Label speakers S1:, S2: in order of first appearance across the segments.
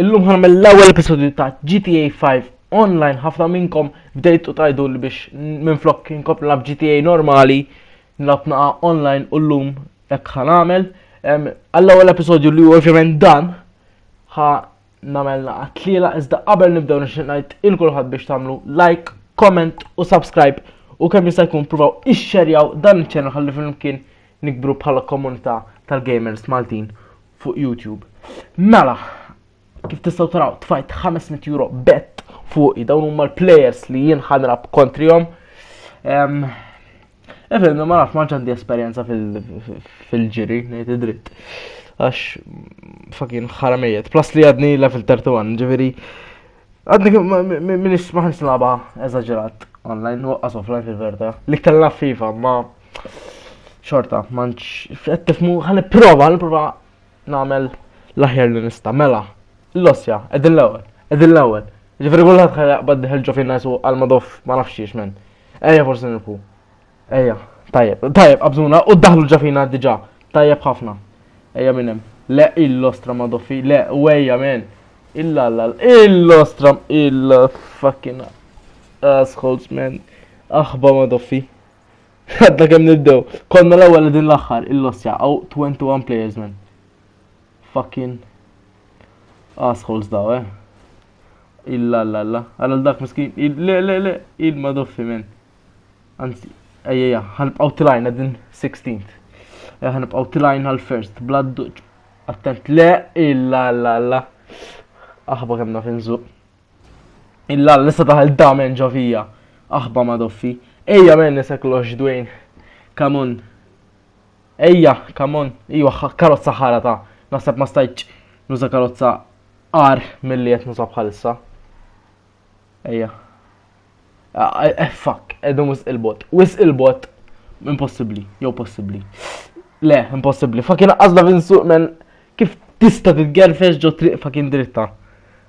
S1: Illum ħanmel l-ewwel episodju ta' GTA 5 online ħafna minnkom bdejtu tajdu li biex minflok inkompli nab GTA normali nilab naqa online u llum hekk ħan għamel. Għall-ewwel episodju li ovvjament dan ħa nagħmel naqa tliela iżda qabel nibdew nixtieq ngħid il kulħadd biex tagħmlu like, comment u subscribe u kemm jista' jkun provaw ixxerjaw dan iċ-ċenel ħalli flimkien nikbru bħala komunità tal-gamers Maltin fuq YouTube. Mela, kif tistgħu taraw tfajt 500 euro bet fuqi dawn huma l-players li jien ħanrab kontrihom. Evelyn, ma nafx ma ġandi esperjenza fil-ġiri, ngħid id-dritt. Għax fakin ħaramejiet. Plus li għadni level 31, ġifieri għadni minix ma ħax nilaba eżaġerat online, waqqas offline fil-verta. Li kellna FIFA, ma Xorta, manċ, qed tifmu, ħalli prova, ħalli prova nagħmel l-aħjar li nista' mela. L-osja, qegħdin l-ewwel, qegħdin l-ewwel. Ġifieri kulħadd ħajja qbad diħel ġo fin-nas u għal madof ma nafx xiex men. Ejja forsi nirpu. Ejja, tajjeb, tajjeb, qabżuna u daħlu ġafina diġà. Tajjeb ħafna. Ejja minn hemm. Le il-lostra ma doffi, le, u ejja men. Illa l il-lostra, il-fucking asshole man. Aħba ma doffi. Għadda kemm nibdew. Konna l-ewwel din l-aħħar il-lossja għaw 21 players man. Fucking assholes daw, eh. Illa la la. Għal dak miskin, le le le, il ma doffi men. Anzi, ejja, ħanibqaw tilajna din 16th. Eh, ħanibqaw tilajna l-first, blad duċ. Attent, le, illa la la. Aħba kemm naf inżuq. Illa l-lista taħal damen ġovija. Aħba ma doffi. Ejja men nisek lox Dwayne. Come on. Ejja, come on. Ejja, karozza ħara ta' naħseb ma stajċ nuża karozza ar mill-li jett nuża bħalissa. Ejja. Eh, fuck, edum wis il-bot. Wis il-bot, impossibli, jew possibli. Le, impossibli. Fakin għazla vinsu, men, kif tista titgerfex ġo triq fakin dritta.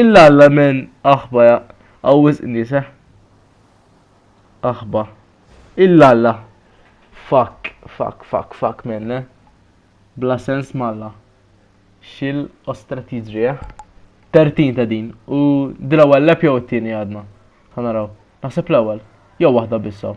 S1: Illa alla men aħba ja, għawis nise. Aħba. Illa alla. Fuck, fuck, fuck, fuck men, le. Bla sens malla. Xil ostra tiġri, eh? Tertin ta' din. U dil-ewwel lep jew it-tieni għadna. Ħanaraw. Naħseb l-ewwel. Jew waħda bissaw.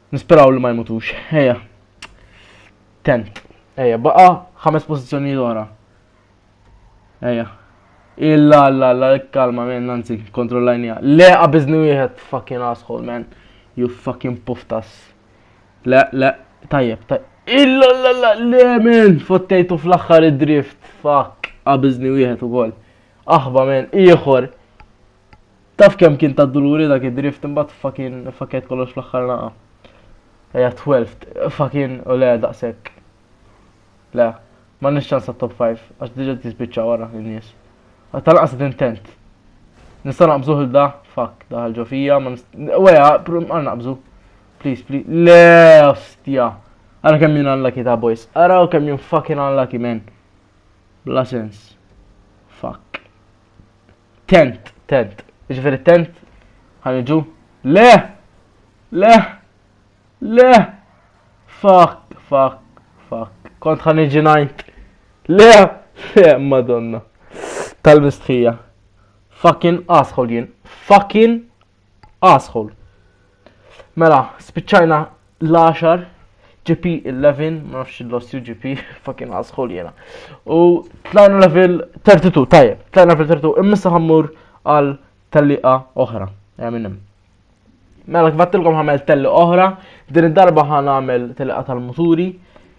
S1: Nisperaw li ma jmutux. Ejja. Tent. Ejja, baqa ħames pożizzjoni l-ora. Ejja. Illa, illa, illa, kalma, men, nanzi, kontrollajnija. Le, għabizni wieħed, fucking asshole, man. You fucking puftas. Le, le, tajjeb, tajjeb. Illa, illa, illa, le, men, fottejtu fl-axħar id-drift. Fuck, għabizni wieħed u għol. Aħba, men, ieħor. Taf kemm kien ta' duluri dak id-drift imbagħad fucking fakkejt kollox fl-aħħar laqgħa. Ejja 12 fucking u le daqshekk. Le, ma nix ċans top 5 għax diġà tispiċċa wara in-nies. Tal-qas intent. Nista' naqbżuh il da, fuck, daħal ġo fija, ma nista' weja, għal naqbżu. Please, please. Le, ostja. Ara kemm jien unlucky ta' boys. Ara kemm jien fucking unlucky man. Bla sens. Fuck. Tent, tent. Ġifieri tent ħanġu. Le! Le! Le! Fuck, fuck, fuck. Kont ħanġi ngħid. Le! Le, madonna. Tal-mistħija. Fucking asshole jien. Fucking Asshole. Mela, spiċċajna l-10 GP 11, ma nafx il-lost UGP, fucking asshole jena. U tlajna level 32, tajjeb, tlajna level 32, immissa ħammur għal telliqa oħra, ja minnim. Mela kbattilkom ħamel telli oħra, din id-darba ħan għamel telliqa tal-muturi.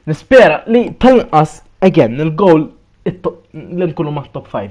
S1: Nispera li tal-inqas, again, il-goal li nkunu ma' top 5.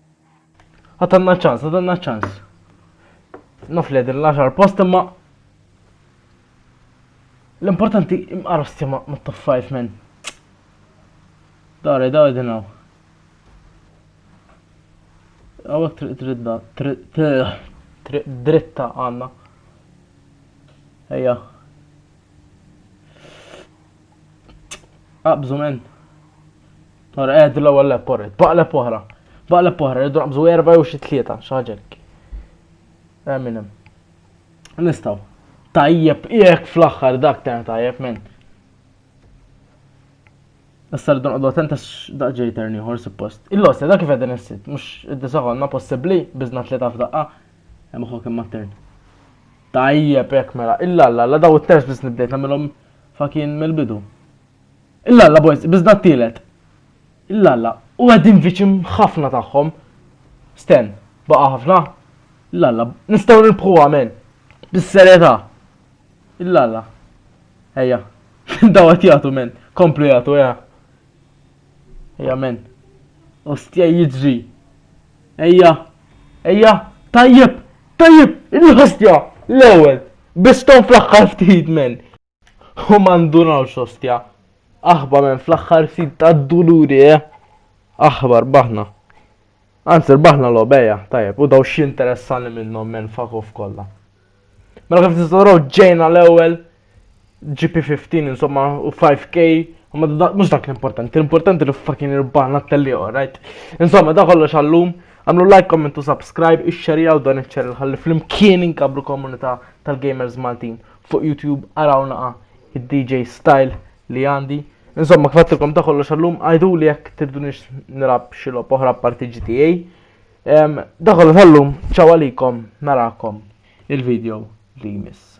S1: Għatanna ċans, għatanna ċans. Nofli din l-10 post imma l-importanti imqarsti ma top 5 men. Dare, dare din għaw. Għawek triq dritta, triq dritta għanna. Ejja. Qabżu men. Ora qed l-ewwel lep porret. Baqleb oħra. Baqleb oħra rridu naqbżu erba' jew xi tlieta xi ħaġa hekk. Eh, minn hemm. Nistgħu. Tajjeb, jekk fl-aħħar dak ta' tajjeb men. Issa rridu nqogħdu attenta x'daq ġej terni ieħor suppost. Il-losta dak kif qegħdin issit, mhux id-disa konna possibbli biżna tlieta f'daqqa. Hemm uħu kemm mat-tern. Tajjeb hekk mela, illa alla, la daw it-terz biss nibdejt nagħmilhom Fa kien mill-bidu. Illalla boys, biżda t-tielet. Illalla, u qegħdin viċin ħafna tagħhom. Sten, baqa' ħafna? Illalla, nistgħu nirbħuha men. Bis-serjetà. Illalla, ejja, daw qed jagħtu men, komplu jagħtu, ejja. Ejja men. Ostja jiġri. Ejja. Ejja. Tajjeb. Tajjeb. Il-ħostja. L-ewwel. Biston fl-aħħar ftit men. U ma ndunawx ostja. Aħba men fl-aħħar ftit tad-duluri eh. Aħbar baħna. Anzi, baħna l-obeja, tajjeb, u daw xinteressani minnom men fakuf kolla. Mela kif tistgħu raw ġejna l-ewwel GP15 insomma u 5K Ma mux dak l-importanti, l-importanti li fucking irbana t-telli, alright? Insomma, da kollox għallum, għamlu like, comment u subscribe, ix-xerja u dan iċ-ċerri ħalli fl-imkien inkabru komunità tal-gamers Maltin. Fuq YouTube għaraw naqa id-DJ style li għandi. Insomma, kfattilkom da kollox għallum, għajdu li jek tirdunix nirab xilob oħra parti GTA. Dakollu tal-lum, ċaw għalikom, narakom il-video li jmiss.